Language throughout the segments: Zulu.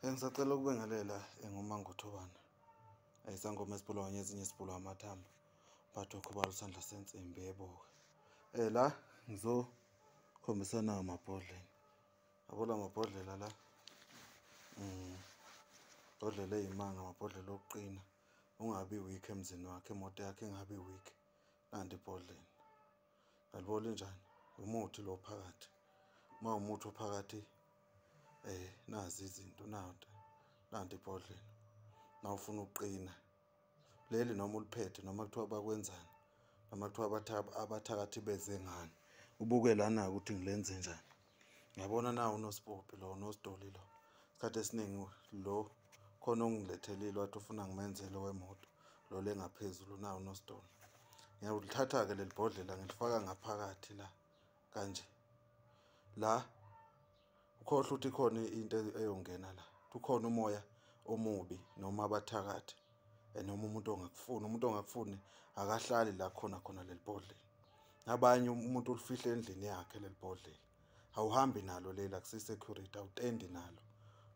Engisacela ukubengelela enguma ngothobana. Ayisangoma esibulawa ngezinye esibulawa amathambo. Bathi ukhubala usandla sensimbi yebo. Eh la ngizo khombisana amabhodlela. Abola amabhodlela la. Mm. Bhodlela eyimanga amabhodlela okuqina. Ungabi weak emzini wakhe, imoto yakhe ingabi weak. Nanti ibhodlela. aliboli njani umuthi lo phakathi uma umuthi ophakathi eh nazi izinto nanti nanti ibhodlela na ufuna uqina leli noma uliphethe noma kuthiwa bakwenzani noma kuthiwa abathakathi beze ngani ubuke lana ukuthi ngilenze njani ngiyabona na unosipophi lo unositoli lo isikhathi esiningi lo khona ongilethelile wathi ufuna ngimenzele wemoto lo lengaphezulu na unositoli ngiyawulithatha-ke leli bhodlela ngilifaka ngaphakathi la kanje la ukhohle ukuthi khona into eyongena la ukhona umoya omubi noma abathakathi and uma umuntu ongakufuni umuntu ongakufuni akahlali la khona khona leli bhodlela nabanye umuntu ulifihle endlini yakhe leli bhodlela awuhambi nalo leli akusi-security awutendi nalo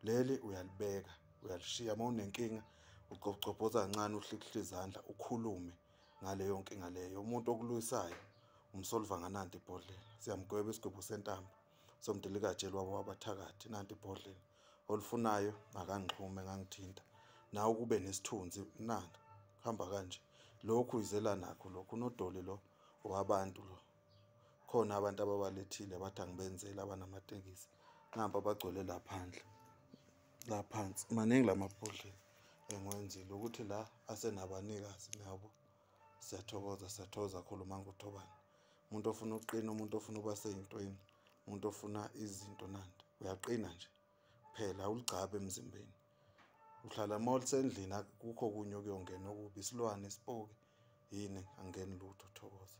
leli uyalibeka uyalishiya uma unenkinga ugcobhobhoza kancane uhlikihla izandla ukhulume ngaleyo nkinga leyo umuntu okuluyisayo umsolva nganandi ibhodlela siyamgweba isigwebo sentambo somdilikaje lwabo wabathakathi nanti ibhodleni olufunayo ngakangixhume ngangithinta nawe kube nesithunzi nanga hamba kanje lokhu izela nakho lokhu unodoli lo wabantu lo khona abantu ababalethile bathi angibenzeli abanamatekisi namba bagcwele la phandle la phansi maningi la mabhodlela engiwenzile ukuthi la asenabanikazi niyabo siyathokoza siyathokoza kakhulu uma nguthobani umuntu ofuna ukuqina umuntu ofuna ukuba seyintweni umuntu ofuna izinto nandi uyaqina nje phela awuligcabe emzimbeni uhlala uma ulisendlini kukho kunye okuyongena okubi isilwane isipoki yini angeni lutho thokoza